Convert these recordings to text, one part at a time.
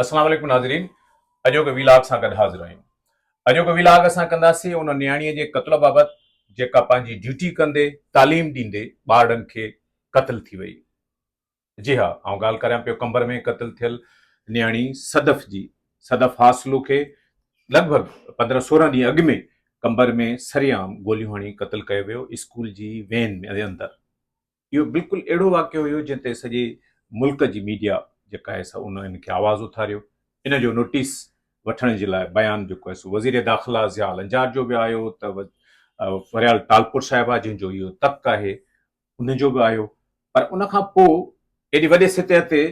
السلام عليڪم ناظرين اڄوڪي وي لاگ سان گڏ حاضر آهيون اڄوڪي وي لاگ اسان ڪنداسين ان نياڻي جي قتل بابت جيڪا پنهنجي ڊيوٽي ڪندي تعليم ڏيندي ٻارڙن کي قتل ٿي وئي جي ها آئون ڳالهه ڪريان پيو قمبر ۾ قتل ٿيل نياڻي صدف جي صدف حاصلو کي لڳ ڀڳ پندرهن سورهن ڏينهن اڳ ۾ قمبر ۾ سرعام گوليون هڻي قتل ڪيو ويو اسڪول جي وين ۾ اندر اهو بلڪل اهڙو واقعو هيو جنهن تي سڄي ملڪ جي ميڊيا جيڪا آهي سا ان کي آواز اٿاريو ان جو نوٽيس وٺڻ جي لاء بيان جيڪو آهي سو وزير داخلا ضياء لنجار جو به آيو ته فريال ٽالپور صاحبه جنهن جو اهو تڪ آهي ان جو به آيو پر ان کان پوء ايڏي وڏي سطح تي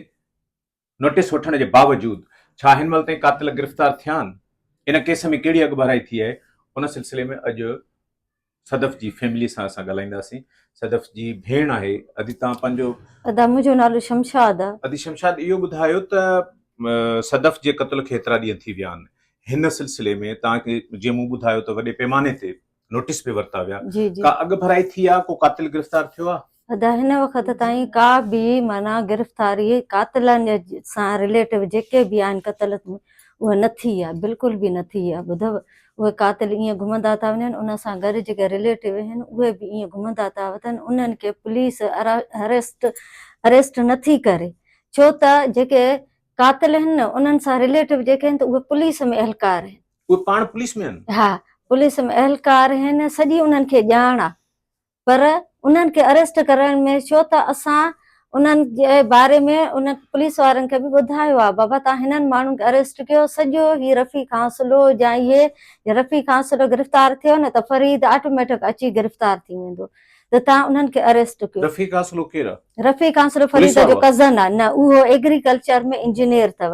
نوٽيس وٺڻ جي باوجود ڇا هن مهل تائين قاتل گرفتار ٿيا آهن؟ ان ڪيس ۾ ڪهڙي اڳڀرائي ٿي آهي؟ ان سلسلي ۾ اڄ صدف جي فيملي سان اسان ڳالهائينداسين. صدف جي ڀيڻ آهي ادي تان پنهنجو. ادا منهنجو نالو شمشاد آ. ادي شمشاد اهو ٻڌايو ته صدف جي قتل کي ايترا ڏينهن ٿي ويا آهن هن سلسلي ۾ تان کي جيئن مون ٻڌايو ته وڏي پيماني تي نوٽيس به ورتا ويا ڪا اڳڀرائي ٿي آ ڪو قاتل گرفتار ٿيو آ؟ ادا هن وقت تائين ڪا به معنيٰ گرفتاري قاتلن سان رليٽو جيڪي به آهن قتل اها نه ٿي آ بلڪل به نه ٿي آ ٻڌو اهي قاتل ايئن گهمندا ٿا وڃن ان سان گڏ جيڪي رليٽو آهن اهي به ايئن گهمندا ٿا وتن انهن کي پوليس اريسٽ اريسٽ نه ٿي ڪري ڇو ته جيڪي قاتل آهن نه انهن سان رليٽو جيڪي آهن ته اهي پوليس ۾ اهلڪار آهن اهي پاڻ پوليس ۾ آهن؟ ها پوليس ۾ اهلڪار آهن سڄي انهن کي ڄاڻ آهي پر انهن کي اريسٽ ڪرڻ ۾ ڇو ته اسان انهن جي باري ۾ انهن پوليس وارن کي به ٻڌايو آهي بابا تهان هنن ماڻهن کي اريسٽ ڪيو سڄو هي رفيق حاصلو جا اهي جي رفيق حاصلو گرفتار ٿيو نه ته فريد آٽوميٽڪ اچي گرفتار ٿي ويندو ته تهان انهن کي اريسٽ ڪيو رفيق حاصلو ڪير آهي؟ رفيق حاصلو فريد جو ڪزن آهي نه اهو ايگريڪلچر ۾ انجنيئر اٿو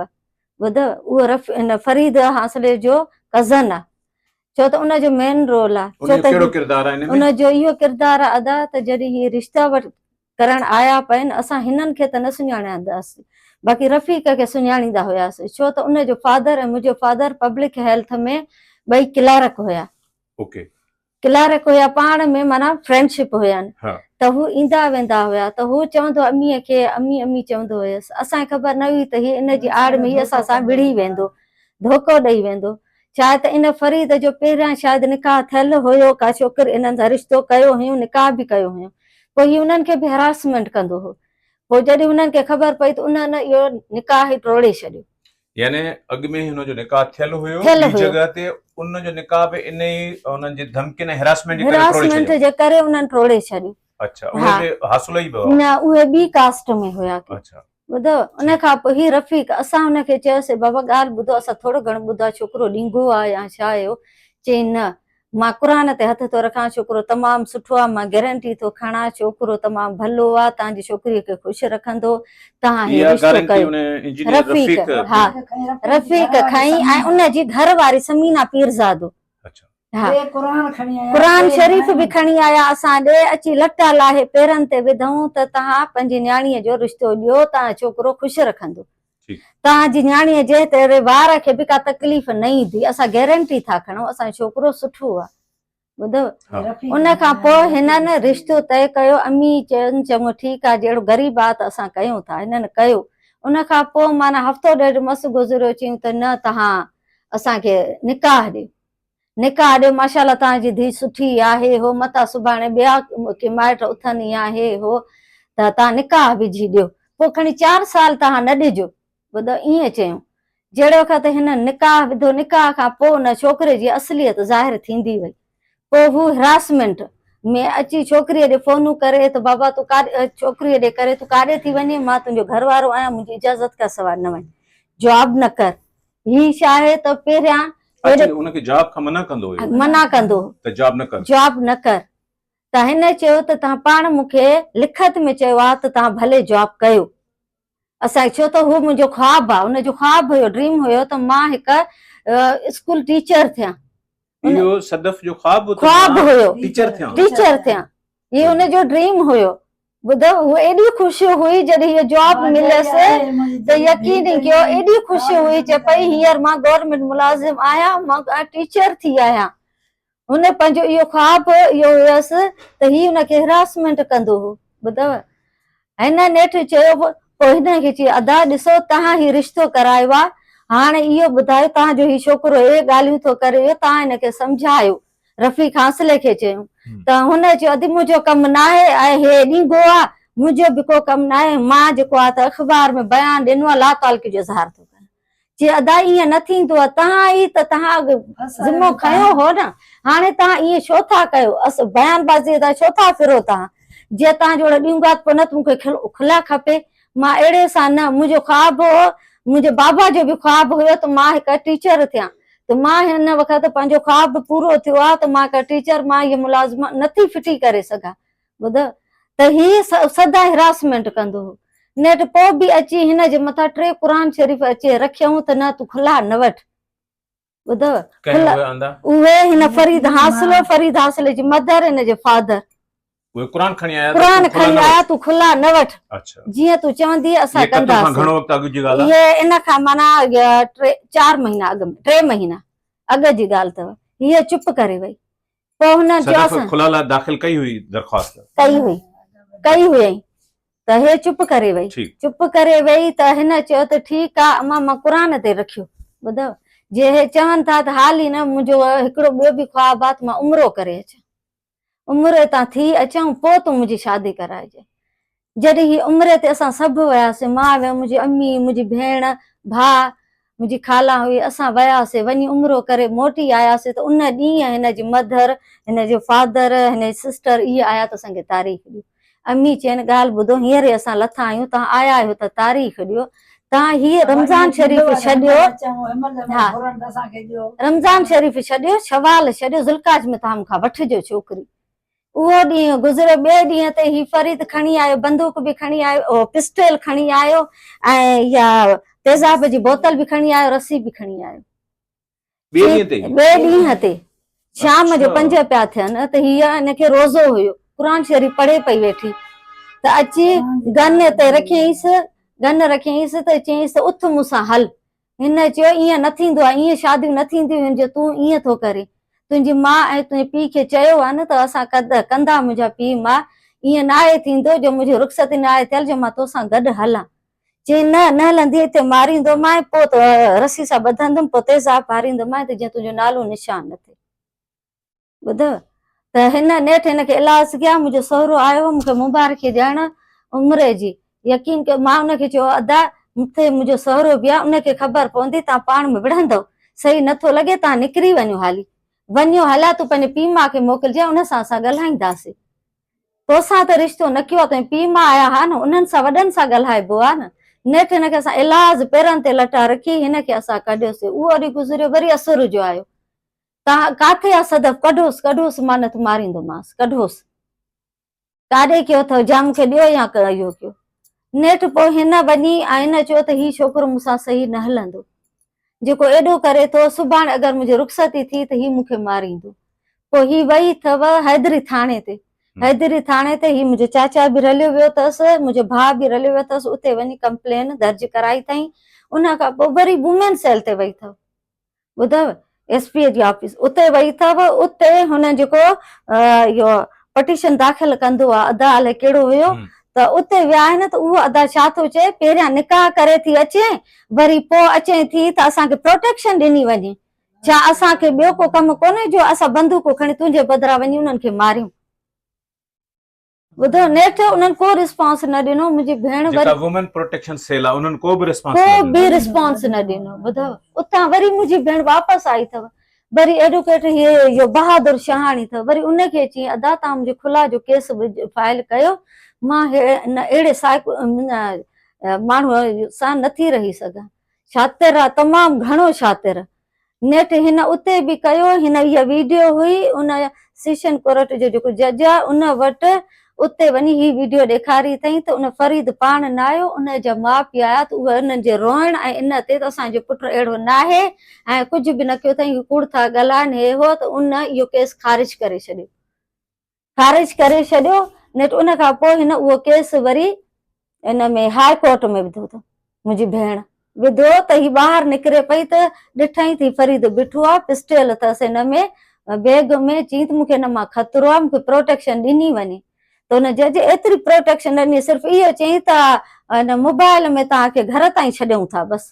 ٻڌ اهو رف ان فريد حاصلي جو ڪزن آ ڇو ته ان جو مين رول آ ان جو ڪهڙو ڪردار آ ان جو اهو ڪردار آ ادا ته جڏهن هي رشتا وٽ ڪرڻ آيا پئين اسان هنن کي ته نه سڃاڻيانداس باقي رفيق کي سڃاڻيندا هياس ڇو ته ان جو فادر ۽ منهنجو فادر پبلڪ هيلٿ ۾ ٻئي ڪلارڪ هيا اوڪي ڪلارڪ هيا پاڻ ۾ معنيٰ فرينڊ شپ هيان ته هو ايندا ويندا هيا ته هو چوندو اميء کي امي امي چوندو هيس اسان کي خبر نه هئي ته هي ان جي آڙ ۾ ئي اسان سان وڙهي ويندو ڌوڪو ڏئي ويندو ڇا ته ان فريد جو پهريان شايد نڪاح ٿيل هيو ڪا ڇوڪري انهن سان رشتو ڪيو هيون نڪاح به ڪيو هيون پوء هي انهن کي به هراسمينٽ ڪندو هو پوء جڏهن انهن کي خبر پئي ته انهن اهو نڪاح ئي ٽوڙي ڇڏيو. يعني اڳ ۾ هن جو نڪاح ٿيل هيو ٻي جڳهه تي ان جو نڪاح به انهي انهن جي ڌمڪين ۽ هراسمينٽ جي ڪري ٽوڙي ڇڏيو هراسمينٽ جي ڪري انهن ٽوڙي ڇڏيو اڇا اهي به حاصل ئي به نه اهي ٻي ڪاسٽ ۾ هيا اڇا ٻڌو ان کان پوء هي رفيق اسان ان کي چيوسي بابا ڳالهه ٻڌو اسان ٿورو گهڻو ٻڌا ڇوڪرو ڏينگهو آ يا ڇا آهي اهو چئين نه مان قرآن تي هٿ ٿو رکان ڇوڪرو تمام سٺو آ مان گيرنٽي ٿو کڻان ڇوڪرو تمام ڀلو آ تهان جي ڇوڪري کي خوش رکندو تهان هي رشتو ڪيو رفيق ها رفيق کائين ۽ ان جي گهر واري سمينا پيرزادو قرآن شريف به کڻي آيا اسان ڏي اچي لٽا لاهي پيرن تي وڌائون ته تهان پنهنجي نياڻي جو رشتو ڏيو تهان ڇوڪرو خوش رکندو ٺيڪ. توهان جي نياڻيء جنهن تي اهڙي وار کي به ڪا تڪليف نه ايندي، اسان گيرنٽي ٿا کڻون، اسان جو ڇوڪرو سٺو آهي. ٻڌو. ها. رفيق ان کان پوء نياڻي جي هنن ڪري. رشتو طئي ڪيو، امي چيو چڱو ٺيڪ آهي، جهڙو غريب آ ته اسان ڪيون ٿا. هنن ڪيو. ان کان پوء معنيٰ هفتو ڏيڍ مس گذريو، چيون ته نه توهان اسان کي نڪاح ڏيو. نڪاح ڏي ماشاءالله تان جي ڌي سٺي آهي هو متان سڀاڻي ٻيا ڪي مائٽ اٿن يا هي هو ته تان نڪاح وجهي ڏيو پو کڻي چار سال تان نه ڏجو ٻڌو ايئن چيون جهڙي وقت هنن نڪاح وڌو نڪاح کان پو ان ڇوڪري جي اصليت ظاهر ٿيندي وئي پو هو هراسمينٽ ۾ اچي ڇوڪري ڏي فونون ڪري ته بابا تون ڪاڏي ڇوڪري ڏي ڪري تون ڪاڏي ٿي وڃي مان تنهنجو گهر وارو آهيان منهنجي اجازت کان سواء نه وڃ جواب نه ڪر هي شاهه ته پهريان اچي ان کي جاب کان منع ڪندو هيو منع ڪندو ته جاب نه ڪر جاب نه ڪر ته هن چيو ته تهان پاڻ مون کي لکت ۾ چيو آهي ته تهان ڀلي جاب ڪيو اسان ڇو ته هو منهنجو خواب آهي ان جو خواب هيو ڊريم هيو ته مان هڪ اسڪول ٽيچر ٿيان اهو صدف جو خواب خواب هيو ٽيچر ٿيان ٽيچر ٿيان هي ان جو ڊريم هيو ٻڌو، هوء ايڏي خوش هئي جڏهن هيء جواب مليس ته يقين ئي ڪيو، ايڏي خوش هئي چئي پئي هينئر مان گورنمينٽ ملازم آهيان، مان ٽيچر ٿي آهيان. هن پنهنجو اهو خواب اهو هيس ته هي هن کي هراسمينٽ ڪندو هو. ٻڌو، هن نيٺ چيو پوء هن کي چيو ادا ڏسو توهان هي رشتو ڪرايو آهي، هاڻ اهو ٻڌايو توهان جو هي ڇوڪرو اهي ڳالهيون ٿو ڪري اهو توهان هن کي سمجهايو. رفيق حاصلي کي چيو ته هن چيو ادي منهنجو ڪم ناهي ۽ هي ڏينگو آ منهنجو به ڪو ڪم ناهي مان جيڪو آ ته اخبار ۾ بيان ڏنو آ لا تعلقي جو اظهار ٿو ڪريان چي ادا ايئن نه ٿيندو آ تهان ئي ته تهان ذمو کنيو هو نه هاڻي تهان ايئن ڇو ٿا ڪيو اس بيان بازي تان ڇو ٿا ڦرو تهان جي تهان جهڙو ڏينگو آ ته پو نه ته مون کي کلا کپي مان اهڙي سان نه، منهنجو خواب هو، منهنجي بابا جو به خواب هيو ته مان هڪ ٽيچر ٿيان ته مان هن وقت پنهنجو خواب به پورو ٿيو آهي ته مان هڪ ٽيچر مان هي ملازمت نه ٿي ڦٽي ڪري سگهان ٻڌ ته هي سدا هراسمينٽ ڪندو هو نيٺ پوء به اچي هن جي مٿان ٽي قرآن شريف اچي رکيائون ته نه تون کلا نه وٺ ٻڌو ڪنهن اهي آندا اهي هن فريد حاصل فريد حاصل جي مدر ان جي فادر اهي قرآن کڻي آيا قرآن کڻي آيا تون کلا نه وٺ اچھا جيئن تون چوندي اسان ڪنداسين گھڻو وقت اڳ جي ڳالهه هي ان کان معنی 4 مهينا اڳ ۾ 3 مهينا اڳ جي ڳالهه اٿو هي چپ ڪري وئي پوء هن چيو صدف اسان کلا لاء داخل ڪئي هئي درخواست. ڪئي هئي ڪئي هئي ته هي چپ ڪري وئي ٺيڪ. چپ ڪري وئي ته هن چيو ته ٺيڪ آ امان مان قرآن تي رکيو ٻڌئو جي هي چون ٿا ته حال ئي نه منهنجو هڪڙو ٻيو به خواب آ ته مان عمرو ڪري اچان عمري تان ٿي اچان پوء تون منهنجي شادي ڪرائجي جڏهن هي عمري تي اسان سڀ وياسين، مان ۽ منهنجي امي، منهنجي ڀيڻ، ڀاء، منهنجي خالا هئي، اسان وياسين، وڃي عمرو ڪري موٽي آياسين ته ان ڏينهن هن جي مڌر، هن جو فادر، هن جي سسٽر اهي آيا ته اسان کي تاريخ ڏيو. امي چين، ڳالهه ٻڌو، هينئر ئي اسان لٿا آهيون، توهان آيا آهيو ته تاريخ ڏيو. توهان هيء رمضان شريف ڇڏيو، ها، رمضان شريف ڇڏيو، شوال ڇڏيو، ذوالقعد ۾ توهان مون کان وٺجو ڇوڪري. اهو ڏينهن گذريو ٻئي ڏينهن تي هي فريد کڻي آيو بندوق به کڻي آيو اهو پسٽيل کڻي آيو ۽ اها تيزاب جي بوتل به کڻي آيو رسي به کڻي آيو ٻئي ڏينهن تي ٻئي ڏينهن تي شام جو پنج پيا ٿين ته هي ان کي روزو هيو قرآن شريف پڙهي پئي ويٺي ته اچي گن تي رکيائينس گن رکيائينس ته چيائينس ته اٿ مون سان هل هن چيو، ائين نه ٿيندو آهي، ائين شاديون نه ٿينديون هن جو تون ائين ٿو ڪرين. تنهنجي ماء ۽ تنهنجي پيء کي چيو آهي نه ته اسان قدر ڪندا منهنجا پيء ماء، ائين نه آهي ٿيندو جو منهنجي رخصتي نه آهي ٿيل جو مان تو سان گڏ هلان. چيائين نه، نه هلندينء هتي ماريندومانء پوء تو رسي سان ٻڌندم پوء تيزاب ڀاريندومانء ته جيئن تنهنجو نالو نشان نه ٿئي. ٻڌو ته هن نيٺ هن کي الاس ڪيا منهنجو سهرو آيو هو مون کي مبارڪي ڏيڻ عمري جي يقين ڪيو مان ان کي چيو ادا مٿي منهنجو سهرو به آهي ان کي خبر پوندي تان پاڻ ۾ وڙهندو صحيح نه ٿو لڳي تان نڪري وڃو هالي وڃو هلا تون پنهنجي پيء ماء کي موڪلجي ان سان اسان ڳالهائينداسي توسان ته رشتو نه ڪيو تنهنجي پيء ماء آيا ها نه انهن سان وڏن سان ڳالهائبو آهي نه نيٺ هن کي اسان الاز پيرن تي لٽا رکي هن کي اسان ڪڍيوسي اهو ڏينهن گذريو وري اسر جو آيو ڪاٿي آ صدف؟ ڪڍوس ڪڍوس مان نه ته ماريندومانس ڪڍوس. ڪاڏي ڪيو اٿئو؟ جا مونکي ڏيو يا ڪه اهو ڪيو. نيٺ پوء هن وڃي ۽ هن چيو ته هي ڇوڪرو مون سان صحيح نه هلندو. جيڪو ايڏو ڪري ٿو، سڀاڻي اگر منهنجي رخصتي ٿي ته هي مونکي ماريندو. پوء هي وئي اٿئو حيدري ٿاڻي تي. حيدري ٿاڻي تي هي منهنجو چاچا به رليو ويو اٿس، منهنجو ڀاء به رليو ويو اٿس، اتي وڃي ڪمپلين درج ڪرائي اٿائين. ان کان پوء وري وومين سيل تي وئي اٿئو. ٻڌئو ايس پي اي جي آفيس اتي وئي اٿئو اتي هن جيڪو اهو پٽيشن داخل ڪندو آ ادا الائي ڪهڙو هيو ته اتي ويا آهن ته اهو ادا ڇا ٿو چئي پهريان نڪاح ڪري ٿي اچين وري پو اچين ٿي ته اسان کي پروٽيڪشن ڏني وڃي ڇا اسان کي ٻيو ڪو ڪم ڪونهي جو اسان بندوقون کڻي تنهنجي بدران وڃي انهن کي ماريون ٻڌو نيٺ انهن ڪو ريسپانس نه ڏنو منهنجي ڀيڻ وري جيڪا وومين پروٽيڪشن سيل آ انهن ڪو به ريسپانس نه ڏنو ڪو به ريسپانس نه ڏنو ٻڌو اتان وري منهنجي ڀيڻ واپس آئي اٿو وري ايڊوڪيٽ هي اهو بهادر شهاڻي اٿو وري ان کي چين ادا تان منهنجي کلا جو ڪيس فائل ڪيو مان ان اهڙي سائڪو ماڻهو سان نٿي رهي سگهان شاطر آ تمام گهڻو شاطر نيٺ هن اتي به ڪيو هن اها ويڊيو هئي ان سيشن ڪورٽ جو جيڪو جج آ ان وٽ اتي وڃي هي ويڊيو ڏيکاري اٿئين ته ان فريد پاڻ نه آيو ان جا ماء پي آيا ته اهي انهن جي روئڻ ۽ ان تي ته اسان جو پٽ اهڙو ناهي ۽ ڪجهه به نه ڪيو اٿئين هي ڪوڙ ٿا ڳالهائين هي هو ته ان اهو ڪيس خارج ڪري ڇڏيو خارج ڪري ڇڏيو نيٺ ان کان پوء هن اهو ڪيس وري ان ۾ هاء ڪورٽ ۾ وڌو ته منهنجي ڀيڻ. وڌو ته هي ٻاهر نڪري پئي ته ڏٺائين ته هي فريد بيٺو آ پسٽيل اٿس هن ۾ بيگ ۾ چيائين ته مون کي هن مان خطرو آ مون کي پروٽيڪشن ڏني وڃي ته هن جج ايتري پروٽيڪشن نه ڏني صرف اهو چيائين ته هن موبائل ۾ توهان کي گهر تائين ڇڏيون ٿا بس.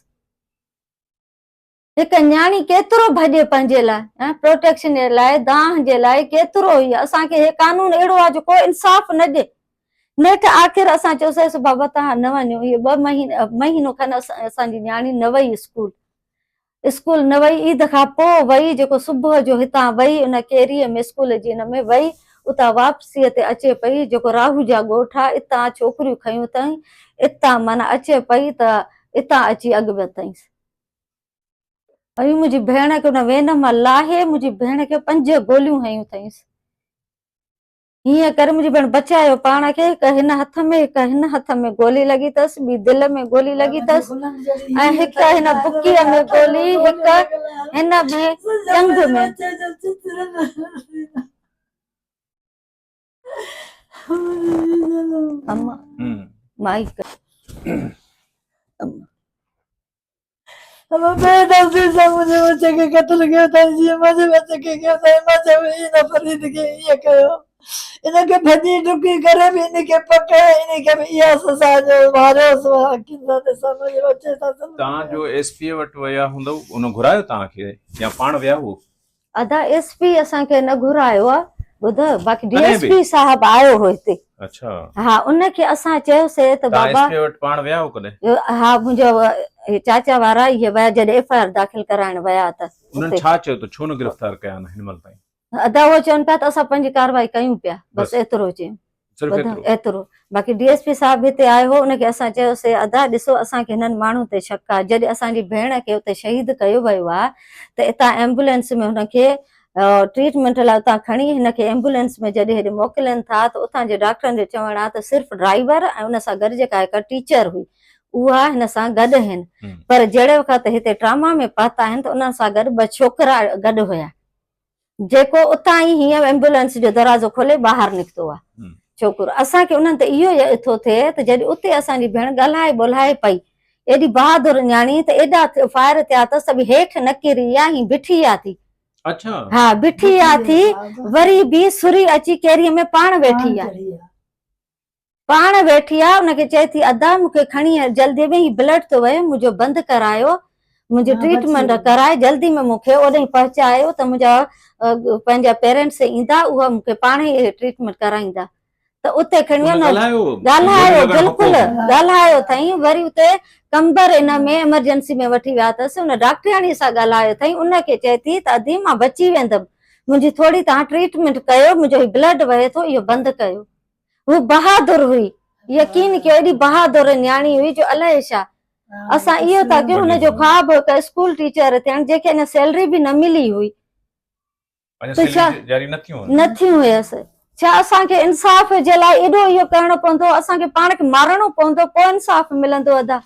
هڪ نياڻي ڪيترو ڀڄي پنهنجي لاء پروٽيڪشن جي لاء دانهن جي لاء ڪيترو هي اسان کي هي قانون اهڙو آهي جو ڪو انصاف نه ڏي نيٺ آخر اسان چيوسيس بابا توهان نه وڃو هي ٻه مهينا مهينو کن اسان جي نياڻي نه وئي اسڪول اسڪول نه وئي عيد کان پو وئي جيڪو صبح جو هتان وئي ان ڪيري ۾ اسڪول جي ان ۾ وئي اتان واپسي تي اچي پئي جيڪو راهو جا ڳوٺ آهي اتان ڇوڪريون کنيون تائين اتان معنيٰ اچي پئي ته اتان اچي اڳ ۾ تائين ۽ منهنجي ڀيڻ کي ان وين مان لاهي منهنجي ڀيڻ کي پنج گوليون هنيون اٿائينس. هيئن ڪري منهنجي ڀيڻ بچايو پاڻ کي، هڪ هن هٿ ۾ هڪ هن هٿ ۾ گولي لڳي اٿس، ٻي دل ۾ گولي لڳي اٿس ۽ هڪ هن بڪيء ۾ گولي، هڪ هن ۾ ڄنگهه ۾. اما مائي اما بي نظر سان مجھے بچے کے قتل کيو تھا جي مجھے بچے کے کيو تھا اما چيو اي نه فريد کي ايئن ڪيو ان کي ڀڄي ڊڪي ڪري به ان کي پڪڙ ان کي به اها سزا جو ماريو سو اکين سان ڏسان مجھي بچي سان تان جو ايس پي وٽ ويا هوندو ان گھرايو تان کي يا پاڻ ويا هو ادا ايس پي اسان کي نه گهرايو آ ٻڌ باقي ڊي ايس پي صاحب آيو هو هتي اچھا ها ان کي اسان چيو سي ته بابا پاڻ ويا هو ڪڏهن ها منهنجا چاچا وارا هي ويا جڏهن ايف آر داخل ڪرائڻ ويا ته انهن ڇا چيو ته ڇو نه گرفتار ڪيا نه هن مل تائين ادا هو چون پيا ته اسان پنهنجي ڪارروائي ڪيون پيا بس ايترو چيو صرف ايترو باقي ڊي ايس پي صاحب به اتي آيو هو ان کي اسان چيوسي ادا ڏسو اسان کي هنن ماڻهن تي شڪ آهي جڏهن اسان جي ڀيڻ کي اتي شهيد ڪيو ويو آهي ته اتان ايمبولينس ۾ هن کي ٽريٽمينٽ لاء اتان کڻي هن کي ايمبولينس ۾ جڏهن هيڏي موڪلين ٿا ته اتان جي ڊاڪٽرن جو چوڻ آهي ته صرف ڊرائيور ۽ ان سان گڏ جيڪا هڪ ٽيچر هئي اها هن سان گڏ آهن پر جهڙي وقت هتي ٽراما ۾ پهتا آهن ته انهن سان گڏ ٻه ڇوڪرا گڏ هيا جيڪو اتان ئي هينئن ايمبولينس جو دروازو کولي ٻاهر نڪتو آ ڇوڪر اسان کي انهن تي اهو يئه ٿو ٿئي ته جڏهن اتي اسان جي ڀيڻ ڳالهائي ٻولهائي پئي ايڏي بهادر نياڻي ته ايڏا فائر ٿيا اٿس ته به هيٺ نه ڪري يا هين بيٺي آ ٿي اڇا ها بيٺي آ ٿي وري به سري اچي ڪيريء ۾ پاڻ ويٺي آ. پاڻ ويٺي آ ان کي چئي ٿي ادا مون کي کڻي جلدي ۾ هي بلڊ ٿو وهي منهنجو بند ڪرايو منهنجي ٽريٽمينٽ ڪرائي جلدي ۾ مون کي اوڏهين پهچايو ته منهنجا پنهنجا پيرنٽس ايندا اها مون کي پاڻ ئي ٽريٽمينٽ ڪرائيندا ته اتي کڻي ويو ڳالهايو بلڪل ڳالهايو ٿئي وري اتي ڪمبر ان ۾ ايمرجنسي ۾ وٺي ويا اٿس ان ڊاڪٽرياڻي سان ڳالهايو ٿئي ان کي چئي ٿي ته ادي مان بچي ويندم منهنجي ٿوري تان ٽريٽمينٽ ڪيو منهنجو هي بلڊ وهي ٿو اهو بند ڪيو هوء بهادر هئي. يقين ڪيو ايڏي بهادر نياڻي هئي جو الائي ڇا اسان اهو ٿا ڪيون هن جو خواب هو هڪ اسڪول ٽيچر ٿيڻ جنهن کي اڃا سيلري به نه ملي هئي ته ڇا نه ٿيون هيس ڇا اسان کي انصاف جي لاء ايڏو اهو ڪرڻو پوندو اسان کي پاڻ کي مارڻو پوندو پوء انصاف ملندو ادا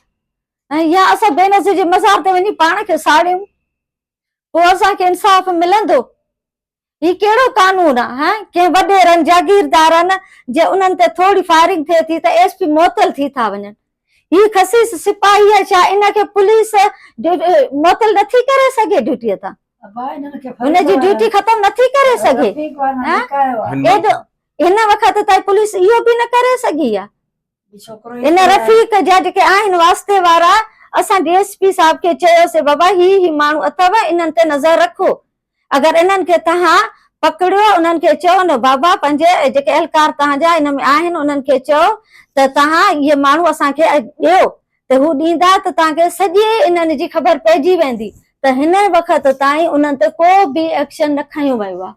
يا اسان بينظير جي مزار تي وڃي پاڻ کي ساڙيون پوء اسان کي انصاف ملندو هي ڪهڙو قانون آ هه ڪنهن وڏيرن جاگيردارن جي انهن تي ٿوري فائرنگ ٿئي ٿي ته ايس پي معطل ٿي ٿا وڃن هي خسيس سپاهي آ ڇا ان کي پوليس معطل نه ٿي ڪري سگهي ڊيوٽي تان هن جي ڊيوٽي ختم نه ٿي ڪري سگهي هن وقت تائين پوليس اهو به نه ڪري سگهي آ ان رفيق جا جيڪي آهن واسطي وارا اسان ڊي ايس پي صاحب کي چيوسي بابا هي هي ماڻهو اٿو انهن تي نظر رکو اگر انهن کي تهان پڪڙيو انهن کي چئو نه بابا پنهنجي جيڪي اهلڪار تهان جا ان ۾ آهن انهن کي چئو ته تهان اهي ماڻهو اسان کي ڏيو ته هو ڏيندا ته تهان کي سڄي انهن جي خبر پئجي ويندي ته هن وقت تائين انهن تي ڪو به ايڪشن نه کنيو ويو آهي.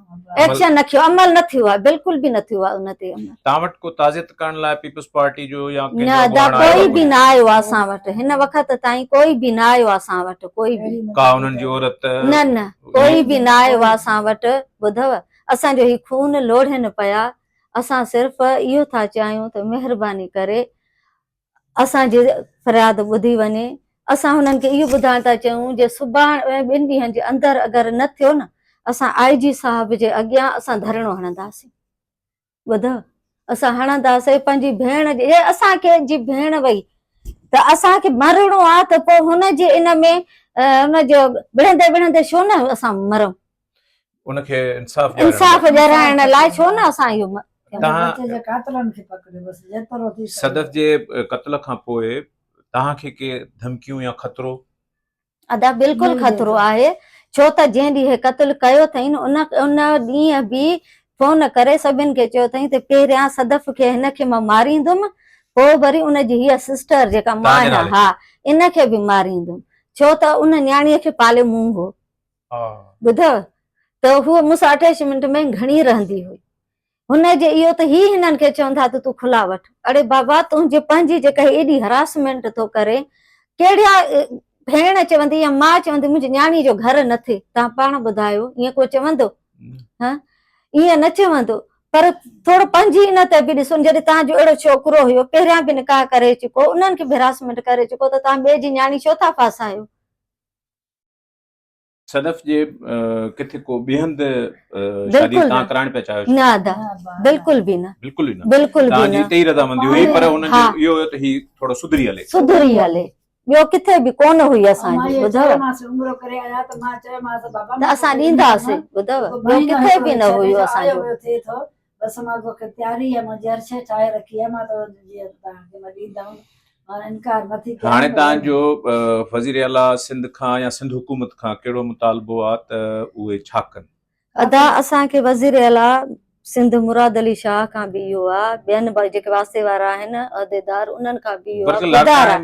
ايڪشن نه ڪيو عمل نه ٿيو آهي بلڪل به نه ٿيو آهي ان تي عمل توهان وٽ ڪو تعزيت ڪرڻ لاء پيپلز پارٽي جو يا ڪنهن جو اڳواڻ آيو ڪوئي به نه آيو آهي اسان وٽ هن وقت تائين ڪوئي به نه آيو آهي اسان وٽ ڪوئي به ڪا انهن جي عورت نه نه ڪوئي به نه آيو آهي اسان وٽ ٻڌئو اسان جو هي خون لوڙهين پيا اسان صرف اهو ٿا چاهيون ته مهرباني ڪري اسان جي فرياد ٻڌي وڃي. اسان هنن کي اهو ٻڌائڻ ٿا چاهيون جي سڀاڻ ۽ ٻن ڏينهن جي اندر اگر نه ٿيو نه اسان آء جي صاحب جي اڳيان اسان ڌرڻو هڻنداسين. ٻڌئو اسان هڻنداسين پنهنجي ڀيڻ جي جي اسان کي جي ڀيڻ وئي ته اسان کي مرڻو آ ته پو هن جي ان ۾ ان جو وڙهندي وڙهندي شو نه اسان مرون ان کي انصاف انصاف ڏيارائڻ لاء ڇو نه اسان اهو صدف جي قتل کان پوء توهان کي ڪي ڌمڪيون يا خطرو ادا بلڪل خطرو آهي ڇو ته جنهن ڏينهن هي قتل ڪيو اٿئين ان ان ڏينهن به فون ڪري سڀن کي چيو اٿئين ته پهريان صدف کي هن کي مان ماريندم پوء وري ان جي هيء سسٽر جيڪا مان ها ان کي به ماريندم ڇو ته ان نياڻيء کي پالي مون هو ٻڌو ته هوء مون سان اٺائيس منٽ ۾ گهڻي رهندي هئي. هن جي اهو ته هي هنن کي چون ٿا ته تون کلا وٺ. اڙي بابا تنهنجي پنهنجي جيڪا هي ايڏي هراسمينٽ ٿو ڪري ڪهڙيا ڀيڻ چوندي يا ماء چوندي منهنجي نياڻي جو گهر نه ٿئي تان پاڻ ٻڌايو ائين ڪو چوندو ها ائين نه چوندو پر ٿورو پنهنجي ان تي به ڏسو جڏهن تان جو اهڙو ڇوڪرو هيو پهريان به نڪاح ڪري چڪو انهن کي به هراسمينٽ ڪري چڪو ته تان ٻئي جي نياڻي ڇو ٿا ڦاسايو صدف جي ڪٿي ڪو ٻي هنڌ شادي تان ڪرائڻ پيا چاهيو نه ادا بلڪل به نه بلڪل نه بلڪل به نه تي رضا مندي هئي پر هن جو اهو هو ته هي ٿورو سڌري هلي سڌري هلي ٻيو ڪٿي به ڪون هئي اسان جي ٻڌو عمر ڪري آيا ته مان چيو ماس بابا اسان ڏيندا سي ٻڌو ٻيو ڪٿي به نه هيو اسان جو بس مان توکي پياري هي منهنجي هر شيء ٺاهي رکي هي مان تو جي تان کي مان ڏيندم مان انڪار نٿي ڪيان هاڻي تان جو وزير اعليٰ سنڌ کان يا سنڌ حڪومت کان ڪهڙو مطالبو آ ته اهي ڇا ڪن. ادا اسان کي وزير اعليٰ سنڌ مراد علي شاهه کان به اهو آ ٻين به جيڪي واسطي وارا آهن عهديدار انهن کان به اهو آ خدارا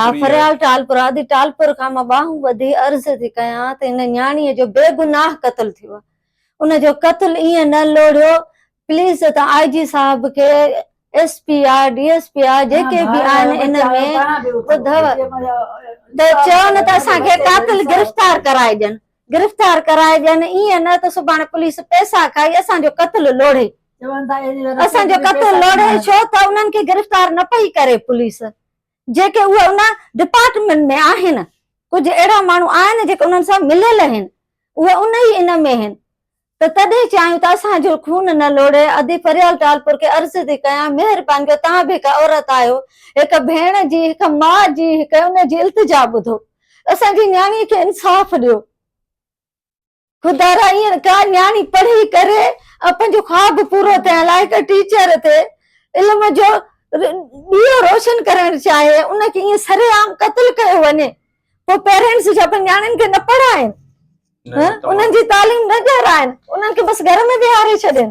ها فريال ٽالپر آ ادي ٽالپر کان مان ٻانهون ٻڌي عرض ٿي ڪيان ته هن نياڻي جو بي گناهه قتل ٿيو آ ان جو قتل ايئن نه لوڙهيو پليز ته آء جي صاحب کي S P I D S P I جيڪي به آهن ان ۾ ٻڌو ته چون ته اسان کي قاتل گرفتار ڪرائي ڏين گرفتار ڪرائي ڏين ايئن نه ته سڀاڻي پليس پئسا کائي اسان جو قتل لوڙهي اسان جو قتل لوڙهي ڇو ته انهن کي گرفتار نه پئي ڪري پليس جيڪي اهي ان ڊپارٽمينٽ ۾ آهن، ڪجهه اهڙا ماڻهو آهن جيڪي انهن سان مليل آهن، اهي ان ئي ان ۾ آهن ته تڏهن چاهيون ته اسان جو خون نه لوڙهي، ادي فريال ٽالپر کي عرض ٿي ڪيان مهرباني ڪري توهان به هڪ عورت آهيو، هڪ ڀيڻ جي، هڪ ماء جي، هڪ ان جي التجا ٻڌو، اسان جي نياڻي کي انصاف ڏيو. خدا را ايئن ڪا نياڻي پڙهي ڪري ۽ پنهنجو خواب پورو ٿيڻ لاء هڪ ٽيچر تي علم جو ڏيئو روشن ڪرڻ چاهي ان کي ايئن سري عام قتل ڪيو وڃي پوء پيرنٽس جا پنهنجي نياڻين کي نه پڙهائين انهن جي تعليم نه ڏيارائن انهن کي بس گهر ۾ ويهاري ڇڏين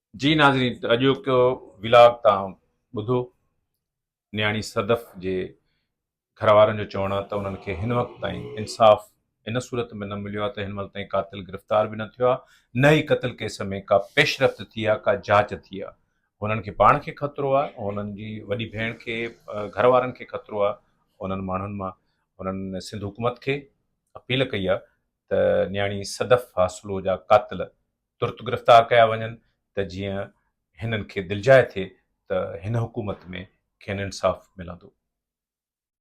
جي ناظرين ته اڄوڪو ولاگ تان ٻڌو نياڻي صدف جي گهر وارن جو چوڻ آهي ته انهن کي هن وقت تائين انصاف ان صورت ۾ نه مليو آهي ته هن مهل تائين قاتل گرفتار به نه ٿيو آهي نه ئي قتل ڪيس ۾ ڪا پيشرفت ٿي آهي ڪا جاچ ٿي آهي هنن کي پاڻ کي خطرو آهي هنن جي وڏي ڀيڻ کي گهر وارن کي خطرو آهي انهن ماڻهن مان هنن سنڌ حڪومت کي اپيل ڪئي آهي ته نياڻي صدف حاصلو جا قاتل ترت گرفتار ڪيا وڃن ته جيئن هنن کي دلجاء ٿئي ته هن حڪومت ۾ کين انصاف ملندو.